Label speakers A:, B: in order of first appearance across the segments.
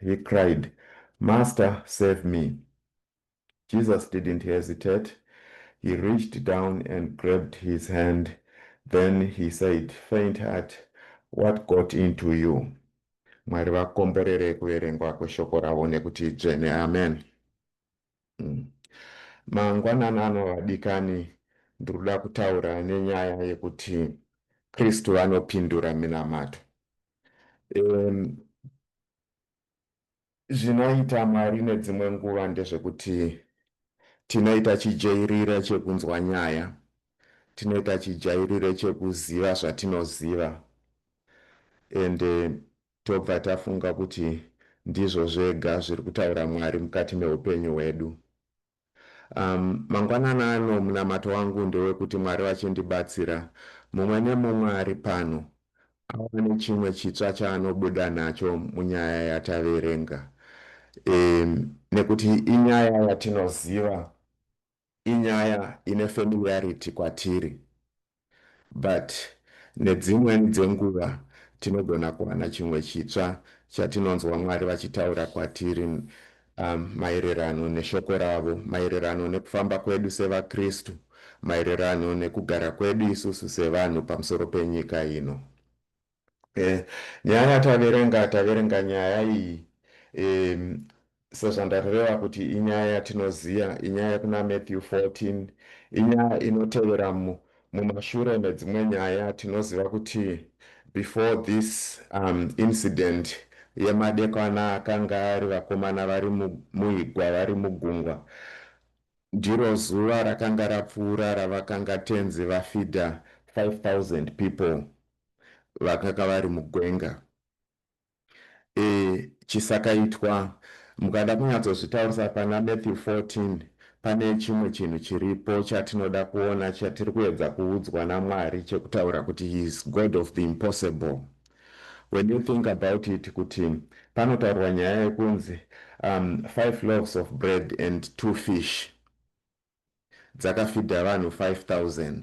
A: He cried, Master, save me! Jesus didn't hesitate, he reached down and grabbed his hand, then he said, Faint-heart, what got into you? Mwari vakomborere kuverengwa kweshoko ravo nekuti idzvene. Amen. mm. mangwananano vadikani ndiri kuda kutaura nenyaya yekuti kristu vanopindura minamato um, zvinoita mwari nedzimwe nguva ndezvekuti tinoita chijairira chekunzwa nyaya tinoita chijairire chekuziva zvatinoziva ende tobva tafunga kuti ndizvo zvega zviri kutaura Mwari mukati meupenyu hwedu. Um, mangwanana ano munamato wangu ndewekuti Mwari vachindibatsira, mumwe nemumwe ari pano awane chimwe chitsva chaanobuda nacho munyaya yataverenga, um, nekuti inyaya yatinoziva Inyaya ine familiarity kwatiri but nedzimwen dzenguva tinogona kuwana chimwe chitsva chatinonzwa Mwari vachitaura kwatiri umm maererano neshoko ravo, maererano nekufamba kwedu sevaKristu, maererano nekugara kwedu isusu sevanhu pamusoro penyika ino. Eh, nyaya yataverenga taverenga nyaya iyi em, sezvandareva kuti inyaya yatinoziva inyaya kuna Matthew 14 inyaya inotevera mu, mumashure medzimwe nyaya tinoziva kuti before this um, incident yemadekwana akanga ari vakomana vari mu- muigwa vari mugungwa ndiro zuva rakanga rapfuura ravakanga tenzi vafidha 5000 people vakaka vari mugwenga e, chisakaitwa mukada kunyatsozvitaurisa pana Matthew 14 pane chimwe chinhu chiripo chatinoda kuona chatiri kuedza kuudzwa naMwari chekutaura kuti he is God of the impossible when you think about it kuti panotaurwa nyaya yekunzi um, five loaves of bread and two fish dzakafidha vanhu 5000.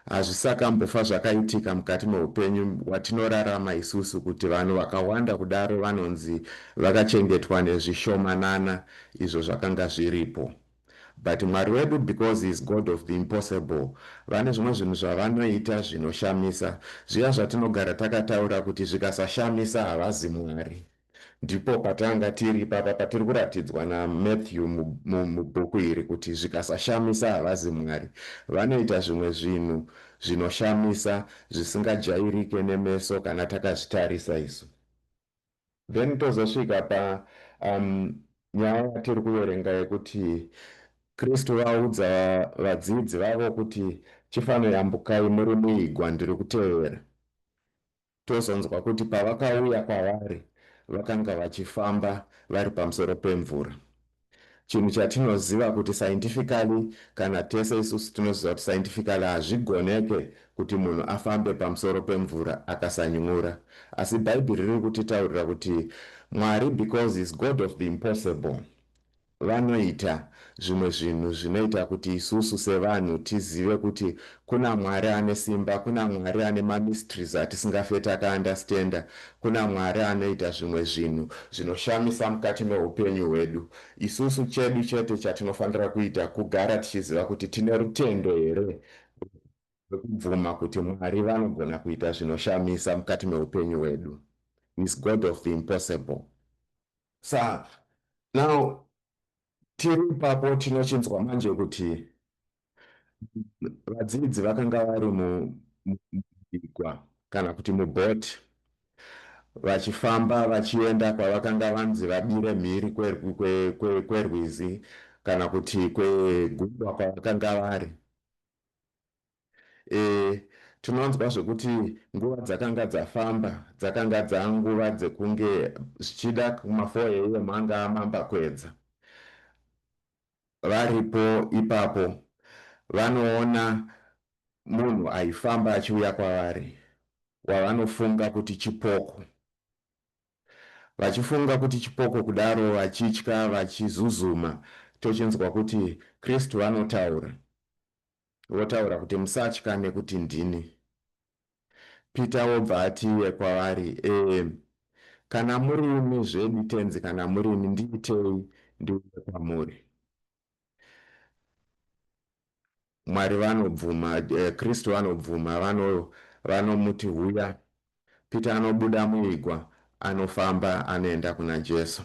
A: Hazvisakambofa zvakaitika mukati mehupenyu hwatinorarama isusu kuti vanhu vakawanda kudaro vanonzi vakachengetwa nezvishomanana izvo zvakanga zviripo. But Mwari wedu because he is God of the impossible vane zvimwe zvinhu zvavanoita zvinoshamisa, zviya zvatinogara takataura kuti zvikasashamisa havazi Mwari. Ndipo patanga tiri ipapa patiri kuratidzwa na Matthew mubhuku iri kuti zvikasashamisa havazi Mwari. Vanoita zvimwe zvinhu zvinoshamisa zvisingajairike nemeso kana takazvitarisa isu. Then tozosvika pa umm nyaya yatiri kuverenga yekuti Kristu vaudza vadzidzi vavo kuti chifanoyambukai muri muigwa ndiri kutevera. Tozonzwa kuti pavakauya kwavari vakanga vachifamba vari pamusoro pemvura. Chinhu chatinoziva kuti scientifically kana tese isusu tinoziva kuti scientifically hazvigoneke kuti munhu afambe pamusoro pemvura akasany'ura. Asi Bhaibheri riri kutitaurira kuti Mwari because he's God of the impossible. Vanoita zvimwe zvinhu zvinoita kuti isusu sevanhu tizive kuti kuna Mwari ane simba, kuna Mwari ane ma mysteries atisingafe taka understander, kuna Mwari anoita zvimwe zvinhu zvinoshamisa mukati mehupenyu hwedu. Isusu chedu chete chatinofanira kuita kugara tichiziva kuti tine rutendo here rwekubvuma kuti Mwari vanogona kuita zvinoshamisa mukati mehupenyu hwedu. He's God of the impossible. Saka now tiri ipapo tinochinzwa manje kuti vadzidzi vakanga vari mubigwa kana kuti mubhoti vachifamba vachienda kwavakanga vanzi vadire mhiri kwerwizi kana kuti kwegungwa kwavakanga vari e, tinonzwa zvekuti nguva dzakanga dzafamba dzakanga dzanguva dzekunge zvichida kumafour am anga amamba kwedza varipo ipapo vanoona munhu aifamba achiuya kwavari wavanofunga kuti chipoko vachifunga kuti chipoko kudaro vachitya vachizuzuma tochinzwa kuti kristu vanotaura Votaura kuti musatya nekuti ndini. Peter wobva ati iye kwavari eeh kana murimi zvedi tenzi kana murimi ndiitei ndiuye kwamuri. Mwari vanobvuma, eh, Kristu vanobvuma vano, vanomuti huya Peter anobuda muigwa anofamba anoenda kuna Jesu.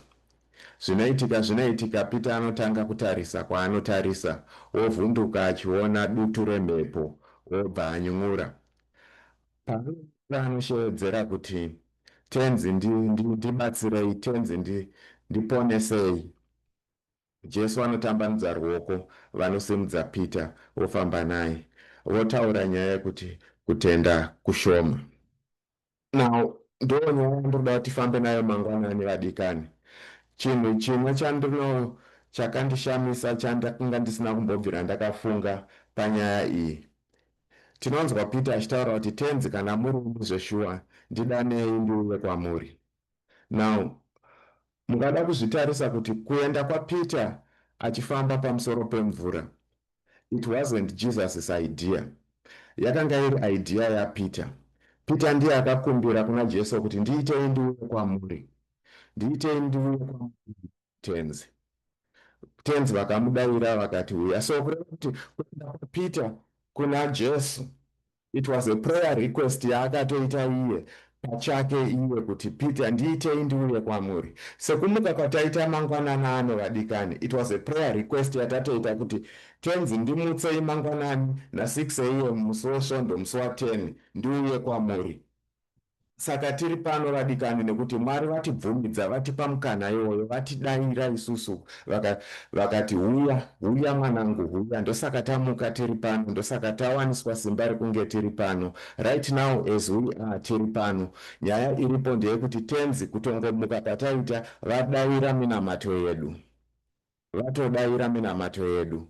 A: Zvinoitika zvinoitika Peter anotanga kutarisa kwaanotarisa wovhunduka achiona dutu remhepo obva any'un'ura. Paanony'un'ura anosheedzera kuti Tenzi ndi, ndi, ndibatsirei, Tenzi ndi, ndiponesei. Jesu anotambanudza ruoko, vanosimudza Peter, vofamba naye, votaura nyaya yekuti kutenda kushoma. Now, ndonyaya yandinoda kuti tifambe nayo mangwanani vadikani. Chinhu chimwe chandino chakandishamisa chandakanga ndisina kumbobvira ndakafunga panyaya iyi. Tinonzwa Peter achitaura kuti tenzi kana muri imi zveshuwa ndidanei ndiuye kwamuri. Now, Mungada kuzvitarisa kuti kuenda kwaPeter achifamba pamusoro pemvura it wasn't Jesus's idea. Yakanga iri idea yaPeter. Peter ndiye akakumbira kuna Jesu kuti ndiitei ndiuye kwamuri. Ndiitei ndiuye kwamuri Tenzi. Tenzi vakamudaira vakati huya. So kureva kuti kuenda kwaPeter kuna Jesu It was a prayer request yaakatoita iye pachake iye kuti Peter ndiitei ndiuye kwamuri. Sekumuka kwataita mangwanana ano vadikani it was a prayer request yatatoita kuti Tenzi ndimutsei mangwanani na six am musi weSvondo musi wa ten ndiuye kwamuri. Saka tiri pano vadikani nekuti Mwari vatibvumidza, vatipa mukana iwoyo, vatidaira isusu vaka, vakati, Huya, huya mwanangu, huya. Ndosaka tamuka tiri pano, ndosaka tawaniswa simba rekunge tiri pano. Right now as we are, tiri pano. Nyaya iripo ndeyekuti Tenzi, kutongomuka kwataita, vadaira minamato yedu. vatodaira minamato yedu.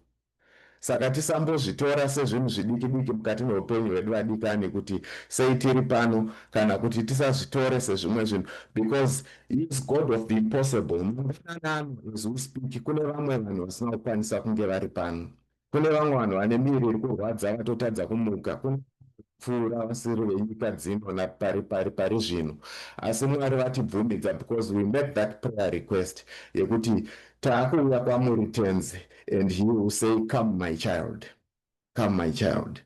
A: Saka tisambozvitora sezvinhu zvidikidiki mukati meupenyu hwedu vadikani kuti sei tiri pano kana kuti tisazvitore sezvimwe zvinhu because is God of the impossible. Mangwanani ano as we speak kune vamwe vanhu vasina kukwanisa kunge vari pano. Kune vamwe vanhu vane miri iri kurwadza vatotadza kumuka kunopfuura vasiri venyika dzino napari pari pari zvino. Asi Mwari vatibvumidza because we made that prayer request yekuti takuuya kwamuri Tenzi and he will say come my child, come my child.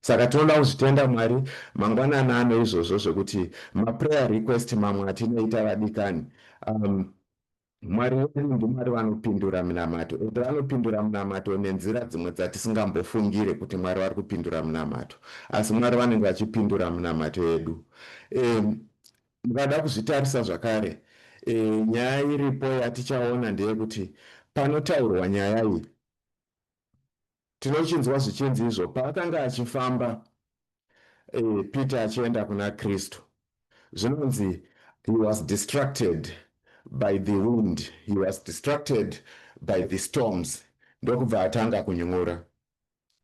A: Saka tinoda kuzvitenda Mwari mangwanani ano izvozvo zvekuti maprayer request mamwe atinoita vadikani um, Mwari wedu ndiMwari vanopindura minamato, ende vanopindura minamato nenzira dzimwe dzatisingambofungire kuti Mwari vari kupindura minamato. Asi Mwari vanenge vachipindura minamato yedu. E, mukada kuzvitarisa zvakare, e, nyaya iripo yatichaona ndeyekuti panotaurwa nyaya iyi tinochinzwa zvichinzi izvo paakanga achifamba eh, peter achienda kuna kristu zvinonzi he was distracted by the wind he was distracted by the storms ndokubva atanga kuny'ura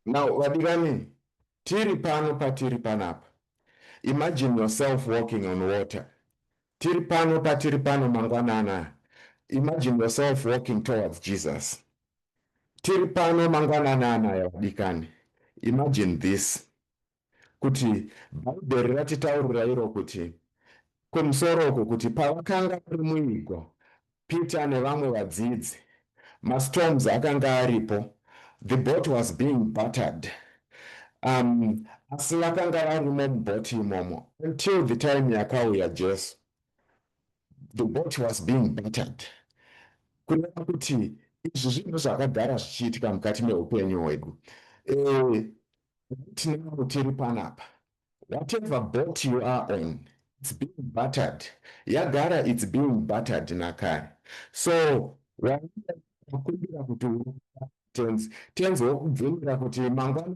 A: now vadikani tiri pano patiri panapa imagine yourself walking on water tiri pano patiri pano mangwanana imagine yourself walking towards jesus Tiri pano mangwanani anaya vadikani. Imagine this kuti Bhaibheri ratitaurira iro kuti kumusoro uku kuti pavakanga vari muigwa Peter nevamwe vadzidzi mastorms akanga aripo the boat was being battered um, asi vakanga varimo mubhoti imomo until the time yakauya Jesu the boat was being battered kureva kuti izvi zvinhu zvakagara zvichiitika mukati meupenyu hwedu eh, tinau tiri panapa whatever boat you are on it's being battered yagara it's being battered nakare so wakumbira kuti tenzi tenzi wokubvumira kuti mangwana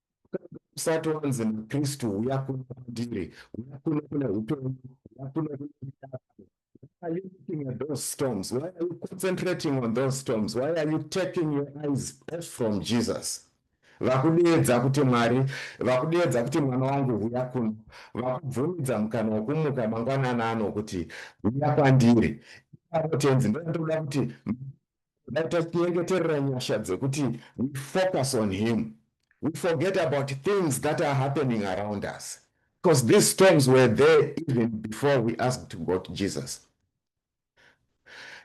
A: usati wanzi naKristu huya kuno kwandiri huya kuno kune upenyu huya kuno kune midarano Why are you looking at those storms? Why are you concentrating on those storms? Why are you taking your eyes off from Jesus? vakudeedza kuti mwari vakudeedza kuti mwana wangu huya kuno vakubvumidza mukana wokumuka mangwanana ano kuti huya kwandiri avo tenzi ndoda kuti Dai tachinyengeterera nyasha dzekuti we focus on him. We forget about things that are happening around us. Because these storms were there even before we asked to go to Jesus.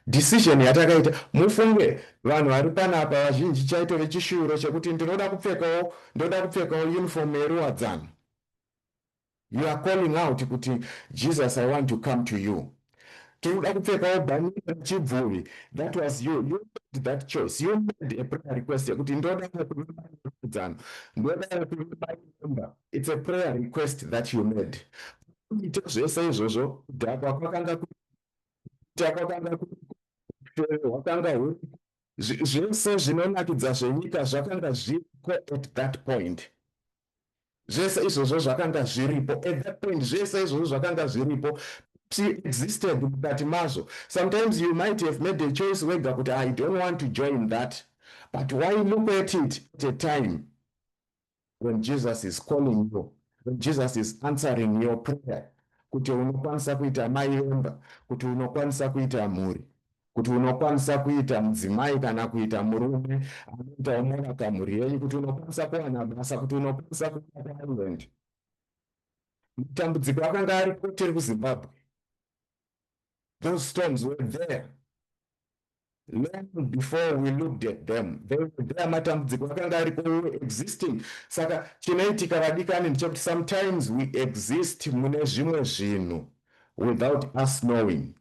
A: Decision yatakaita mufunge vanhu vari panapa vazhinji chaitove chishuviro chekuti ndinoda kupfekawo ndoda kupfekawo uniform yeruwadzano. You are calling out kuti Jesus I want to come to you. Tinoda kupfekawo bhanera chibvuvi. That was you. You made that choice. You made a prayer request yekuti ndoda kuvakudzano. Ndoda kuvaimba. It's a prayer request that you made. Kuita zvese izvozvo kudhakwa kwakanga kuita kwakanga hwakanga huri zvese zvinonakidza zvenyika zvakanga zviriko at that point. zvese izvozvo zvakanga zviripo at that point zvese izvozvo zvakanga zviripo existed mukati mazvo sometimes you might have made a choice wega kuti i don't want to join that but why look at it at a time when jesus is calling you when jesus is answering your prayer kuti unokwanisa kuita mai vemba kuti unokwanisa kuita mhuri kuti unokwanisa kuita mudzimai kana kuita murume anoita unorapa mhuri yenyu kuti unokwanisa kuwana basa kuti unokwanisa kuenda kuireland matambudziko akanga ari koteri kuzimbabwe those storms were there long before we looked at them they were there matambudziko akanga ariko we were existing saka chinoitika vadikani ndichekuti sometimes we exist mune zvimwe zvinhu without us knowing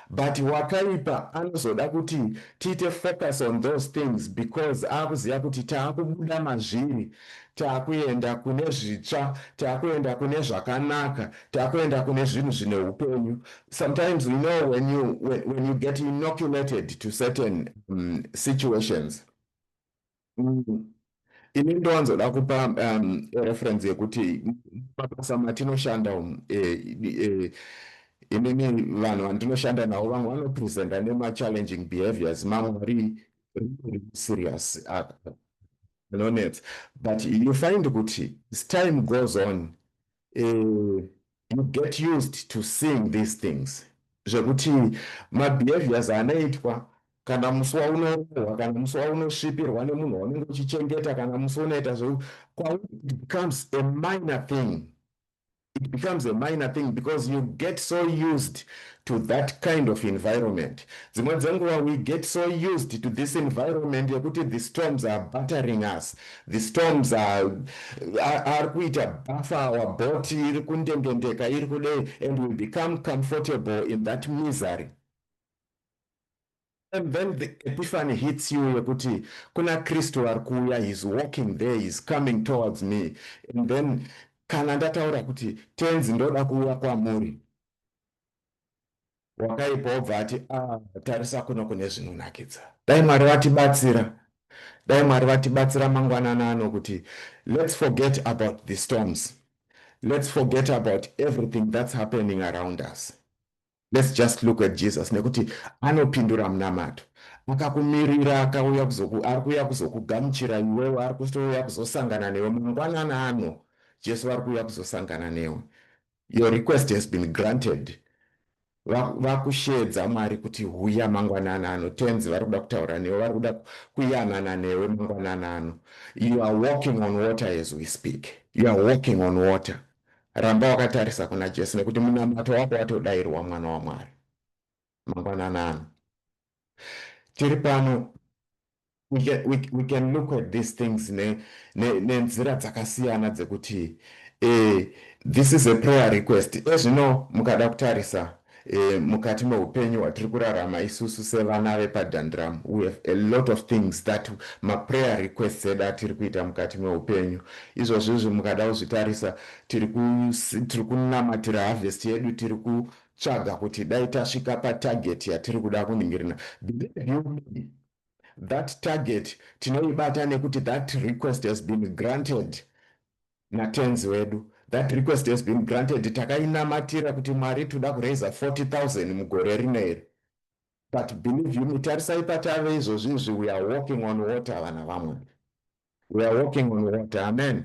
A: But wakaipa anozoda kuti tiite focus on those things because akuziva kuti taakubuda mazviri taakuenda kune zvitsva taakuenda kune zvakanaka taakuenda kune zvinhu zvine hupenyu sometimes you know when you, when, when you get inoculated to certain um, situations Mm. Ini ndowanzoda kupa um, reference yekuti mabasa matinoshanda umu eh, eh, inini vanhu vandinoshanda navo vamwe vanopresenta nemachallenging behaviors mamwe ari serious anonetsa but you find kuti as time goes on uh, you get used to seeing these things zvekuti mabehaviors anoitwa kana musi waunorohwa kana musi waunosvipirwa nemunhu waunenge uchichengeta kana musi unoita zve kwauri it becomes a minor thing it becomes a minor thing because you get so used to that kind of environment dzimwe dzenguva we get so used to this environment yekuti the storms are battering us The storms are ari kuita bhafa our boat iri kundendendeka iri kudei and we become comfortable in that misery and then the epiphany hits you yekuti kuna kristu ari kuuya he's walking there he's coming towards me and then kana ndataura kuti tenzi ndoda kuuya kwamuri wakaipa wobva ati ah, tarisa kuno kune zvinonakidza dai mwari vatibatsira dai mwari vatibatsira mangwanana ano kuti let's forget about the storms let's forget about everything that's happening around us let's just look at jesus nekuti anopindura munamato akakumirira akauya kuzoku ari kuuya kuzokugamuchira iwewe ari kutouya kuzosangana newe mangwanana ano jesu vari kuuya kuzosangana newe Your request has been granted. Vakusheedza Mwari kuti huya mangwanana ano. Tenzi vari kuda kutaura newe, vari kuda kuyanana newe mangwanana ano. You are walking on water as we speak. You are walking on water. Ramba wakatarisa kuna Jesu nekuti munamato wako watodairwa mwana waMwari. Mangwanana ano. tiri pano we can, we, we can look at these things nenzira ne, dzakasiyana dzekuti eh, this is a prayer request ezvino eh, mukada kutarisa eh, mukati meupenyu hwatiri kurarama isusu sevana vepadhandram we have a lot of things that maprayer requests edu atiri kuita mukati meupenyu izvozvizvi mukada kuzvitarisa tiri kunamatira harvest yedu tiri ku tsvaga kuti dai tasvika patarget yatiri kuda kuningirina believe you me that target tinoibata nekuti that request has been granted natenzi wedu that request has been granted takainamatira kuti mwari toda kuraiza 40000 mugore rino iri but believe you me tarisai patave izvozvi izvi we are walking on water vana vamwari we are walking on water amen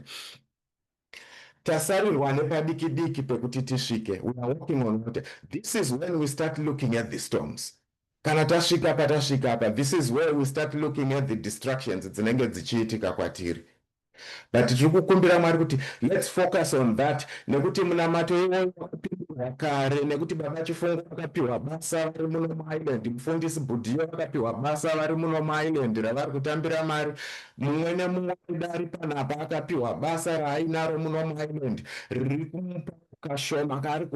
A: Tasarirwa nepadiki diki pekuti tisvike, we are walking on water. This is when we start looking at the storms. Kana tasvika patasvika apa, this is where we start looking at the distractions dzinenge dzichiitika kwatiri. But tiri kukumbira Mwari kuti let's focus on that nekuti munamato iwoyo wakapihwa kare nekuti baba Chifungo vakapiwa basa vari muno muIreland, mufundisi Budhiyo vakapiwa basa vari muno muIreland ravari kutambira mari. Mumwe nemumwe mudare panapa akapiwa basa raainaro muno muIreland riri kumupa kashoma kaari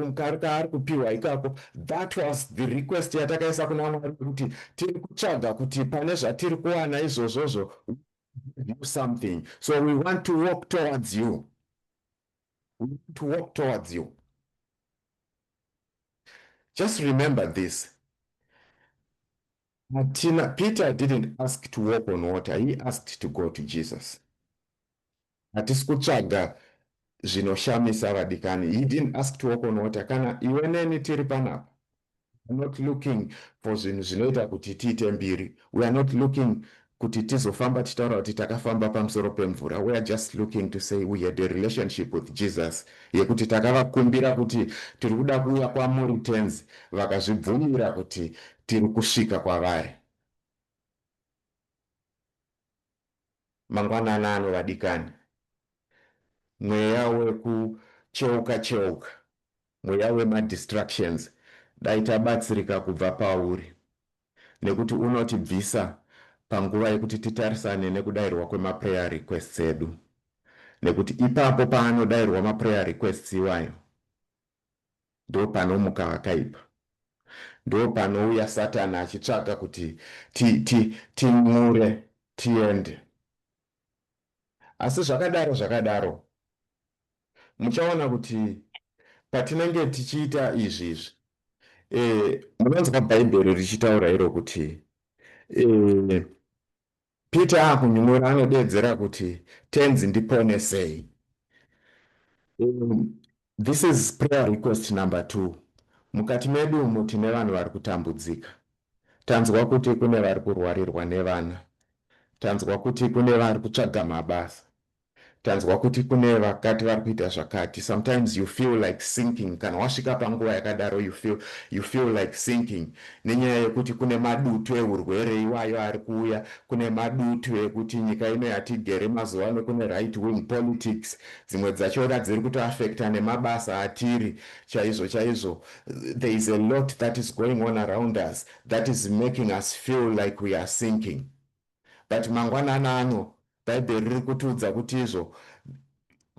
A: kupiwa ikako. That was the request yatakaisa kuna Mwari yekuti tiri kutsvaga kuti pane zvatiri kuwana izvozvozvo we give you something so we want to walk towards you, we want to walk towards you. Just remember this, Hatina, Peter didn't ask to walk on water, he asked to go to Jesus. Hatisi kutsvaga zvinoshamisa vadikani. He didn't ask to walk on water. Kana iwe neni tiri panapa, we are not looking for zvinhu zvinoita kuti tiite mbiri. We are not looking kuti tizofamba tichitaura kuti takafamba pamusoro pemvura we are just looking to say we had a relationship with Jesus yekuti takavakumbira kuti tiri kuda kuuya kwamuri tenzi vakazvibvumira kuti tiri kusvika kwavari mangwanana ano vadikani mweya wekucheuka cheuka mweya wemadistructions dai tabatsirika kubva pauri nekuti unotibvisa panguva yekuti titarisane nekudairwa kwemaprayer requests edu nekuti ipapo paanodairwa maprayer requests iwayo ndopanomuka vakaipa ndopanouya satani achitsvaga kuti tin'ure tiende asi zvakadaro zvakadaro muchaona kuti patinenge tichiita izvi izvi e, munonzwa bhaibheri richitaura iro kuti e, peter akunyumura anodeedzera kuti tenzi ndiponesei e, this is prayer request number two mukati medu umo tine vanhu vari kutambudzika tanzwa kuti kune vari kurwarirwa nevana tanzwa kuti kune vari kutsvaga mabasa Tanzwa kuti kune vakati vari kuita zvakati sometimes you feel like sinking kana wasvika panguva yakadaro you feel, you feel like sinking nenyaya yekuti kune madutu ehurwere iwayo ari kuuya kune madutu ekuti nyika ino yatigere mazuva ano kune right wing politics dzimwe dzachona dziri kutoaffecta nemabasa atiri chaizvo chaizvo there is a lot that is going on around us that is making us feel like we are sinking but mangwanana ano bhaibheri riri kutiudza kuti izvo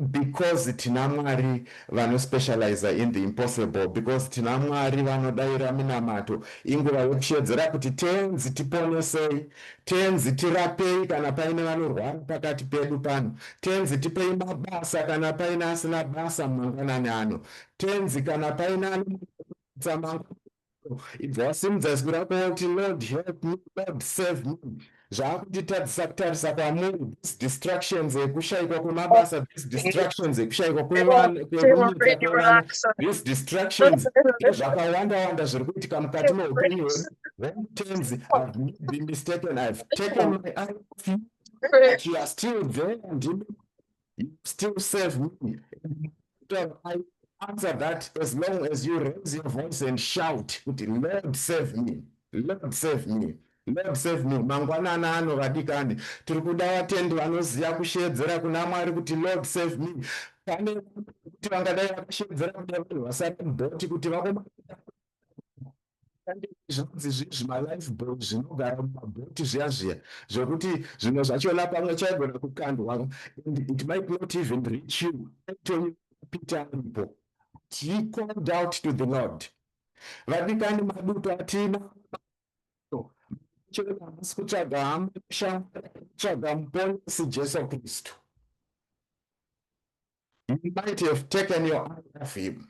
A: because tina mwari vanospecializa in the impossible because tina mwari vanodaira minamato inguva yokushedzera kuti tenzi tiponesei tenzi tirapei kana paine vanorwara pakati pedu pano tenzi tipei mabasa kana paine asina basa mumangwanani ano tenzi kana paine anoamangu ibva wasimudza zwi rako woti lord help me lord save me zvaakutitadzisa kutarisa kwamuri these distractions ekushayikwa kwemabasa these distractions ekushayikwa kwevana these distractions ezvakawanda wanda zviri kuitika mukati meupenyu hwedu then tenzi i've not been mistaken i've taken my eye off you but you are still there ndimi you still serve me. I answer that as long as you raise your voice and shout, Lord save me, Lord save me. Lord save me mangwanana ano vadikani tiri kuda vatendi vanoziva kushedzera kuna mwari kuti lord save me pane kuti vangadai vakashedzera kuda vanhu vasati bhoti kuti vakomaa zvinonzi zvimalife boy zvinogara mumabhoti zviya zviya zvokuti zvimwe zvachona pamwe chaigona kukandwa and it might not even reach you antony pita aripo he called out to the lord vadikani maduto atina chero hamusi kutsvaga hama kushamwari kutsvaga muponesi jesu kristu You might have taken your eye off him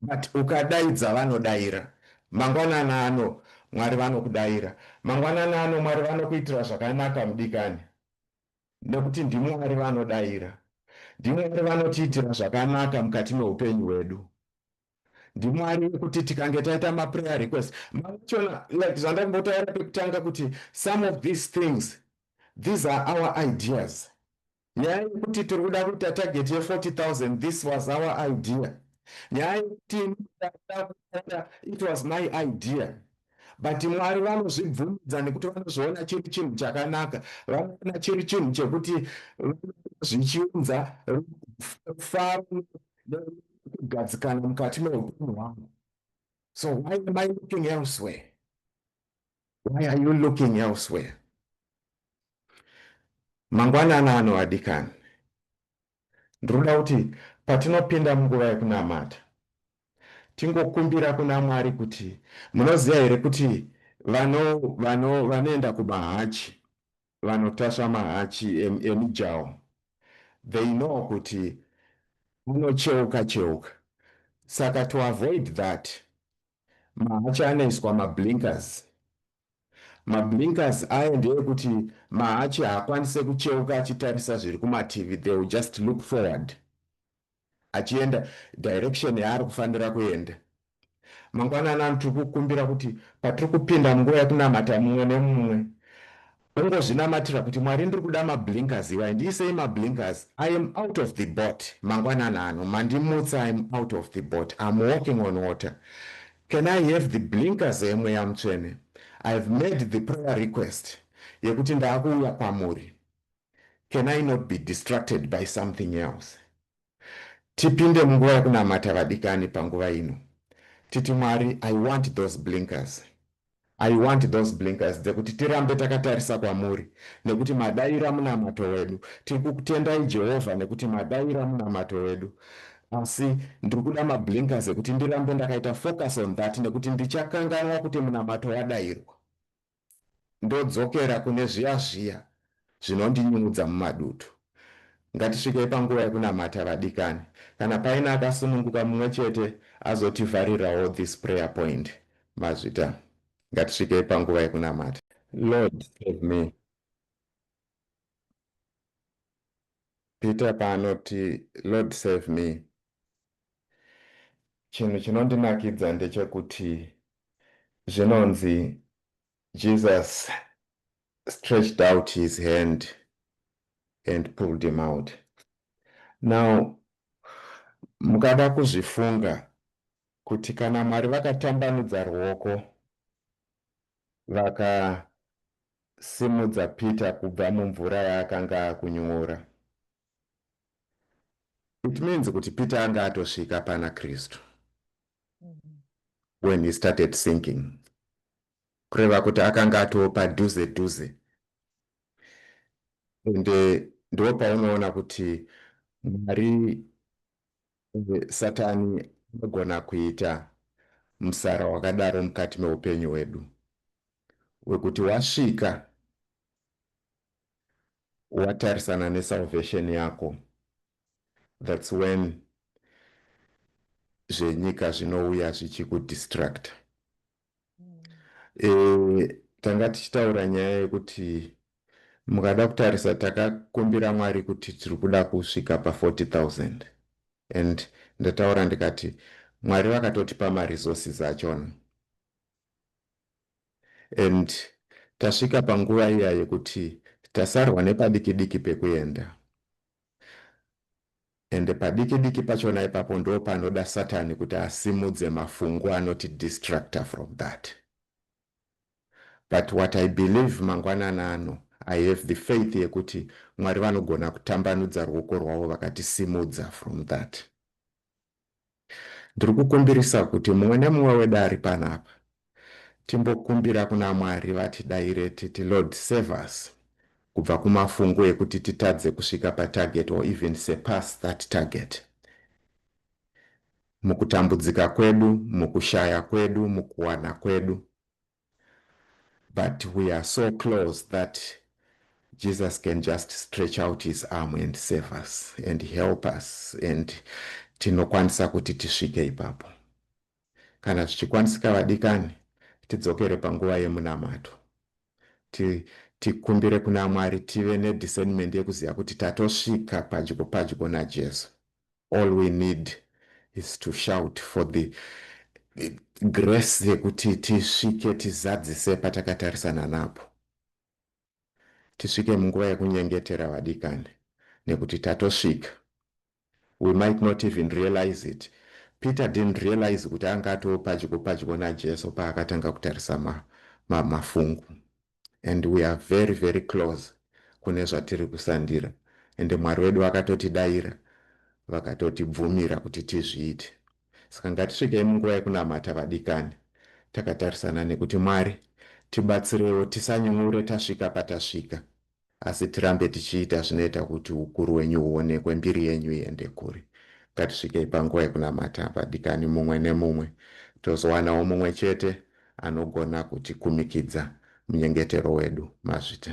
A: but ukadaidza vanodaira mangwanani ano mwari vanokudaira mangwanani ano mwari vanokuitira zvakanaka mudikani nekuti ndimwari vanodaira ndimwari vanotiitira zvakanaka mukati meupenyu hwedu ndimwari wekuti tikange taita maprayer request machona like zvandambotaura pekutanga kuti some of these things these are our ideas nyaya yekuti tiri kuda kuita target ye 40000 this was our idea nyaya yekuti it was my idea but mwari vanozvibvumidza nekuti vanozviona chiri chinhu chakanaka vanoona chiri chinhu chekuti zvichiunza faro kugadzikana mukati meupenyu hwangu so why am i looking elsewhere why are you looking elsewhere mangwanana ano adikani ndiri kuda kuti patinopinda munguva yekunamata tingokumbira kuna mwari kuti munoziva here kuti vanoenda kumahachi vanotasva mahachi emijaho they know kuti anocheuka cheuka saka to avoid that mahachi anoiswa mablinkers mablinkers aye ndeekuti mahachi haakwanise kucheuka achitarisa zviri kumativi they will just look forward achienda direction yaari kufanira kuenda. Mangwana anani tiri kukumbira kuti patiri kupinda munguva yekunamata mumwe nemumwe ungozvinamatira kuti Mwari ndiri kuda mablinkers iwai ndiisei mablinkers I am out of the boat mangwanana ano mandimutsa I am out of the boat I'm walking on water can I have the blinkers emweya mutsvene I've made the prayer request yekuti ndaakuuya kwamuri can I not be distracted by something else? Tipinde munguva yekunamata vadikani panguva ino. Titi Mwari, I want those blinkers. I want those blinkers dzekuti tirambe takatarisa kwamuri nekuti madaira munamato wedu. Tiri kukutendai Jehovha nekuti madaira munamato wedu. Asi ndiri kuda mablinkers ekuti ndirambe ndakaita focus on that nekuti ndichakanganwa kuti munamato wadairwa. ndodzokera kune zviya zviya zvinondinyungudza mumadutu. Ngatisvikei panguva yekunamata vadikani. Kana paine akasununguka mumwe chete azotivharirawo this prayer point. Mazvita. Ngatisvikei panguva yekunamata. Lord save me. Peter paanoti Lord save me Chinhu chinondinakidza ndechekuti zvinonzi Jesus stretched out his hand and pulled him out. Now, mukada kuzvifunga kuti kana Mwari vakatambanudza ruoko vakasimudza Peter kubva mumvura yaakanga akunyora, It means kuti Peter anga atosvika pana Kristu when he started sinking. Kureva kuti akanga atopa duze duze. And eh, ndipo paunoona kuti Mwari eh, Satani anogona kuita musara wakadaro mukati meupenyu hwedu. Wekuti wasvika watarisana nesalvation yako thats when zvenyika zvinouya zvichikudistracta mm. e, tanga tichitaura nyaya yekuti mukada kutarisa takakumbira mwari kuti tiri kuda kusvika pa40000 and ndataura ndikati mwari vakatotipa maresources achona and tasvika panguva iya yekuti tasarwa nepadiki diki pekuenda and padiki diki pachona ipapo ndopanoda satani kuti asimudze mafungu anoti distractor from that but what i believe mangwanana ano i have the faith yekuti mwari vanogona kutambanudza ruoko rwavo vakatisimudza from that Ndiri kukumbirisa kuti mumwe nemumwe wedu ari pano apa timbokumbira kuna Mwari vatidaire titi, Lord save us kubva kumafungu ekuti titadze kusvika patarget or even surpass that target. Mukutambudzika kwedu, mukushaya kwedu, mukuwana kwedu. but we are so close that Jesus can just stretch out his arm and save us and help us and tinokwanisa kuti tisvike ipapo kana zvichikwanisika vadikani tidzokere panguva yemunamato tikumbire ti kuna mwari tive nediscernment yekuziva kuti tatosvika padyo padyo najesu All we need is to shout for the grace yekuti tisvike tizadzise patakatarisana napo tisvike munguva yekunyengetera vadikani nekuti tatosvika we might not even realize it peter didn't realize kuti anga atoo padyo padyo najesu paakatanga kutarisa mafungu ma, ma and we are very very close kune zvatiri kusandira ende mwari wedu vakatotidaira vakatotibvumira kuti tizviite saka ngatisvikei munguva yekunamata vadikani takatarisana nekuti mwari tibatsirewo tisanyungure tasvika patasvika Asi tirambe tichiita zvinoita kuti ukuru wenyu huonekwe, mbiri yenyu iende kure. Ngatisvikei panguva yekunamata, vadikani, mumwe nemumwe, tozowanawo mumwe chete anogona kutikumikidza munyengetero wedu. Mazvita.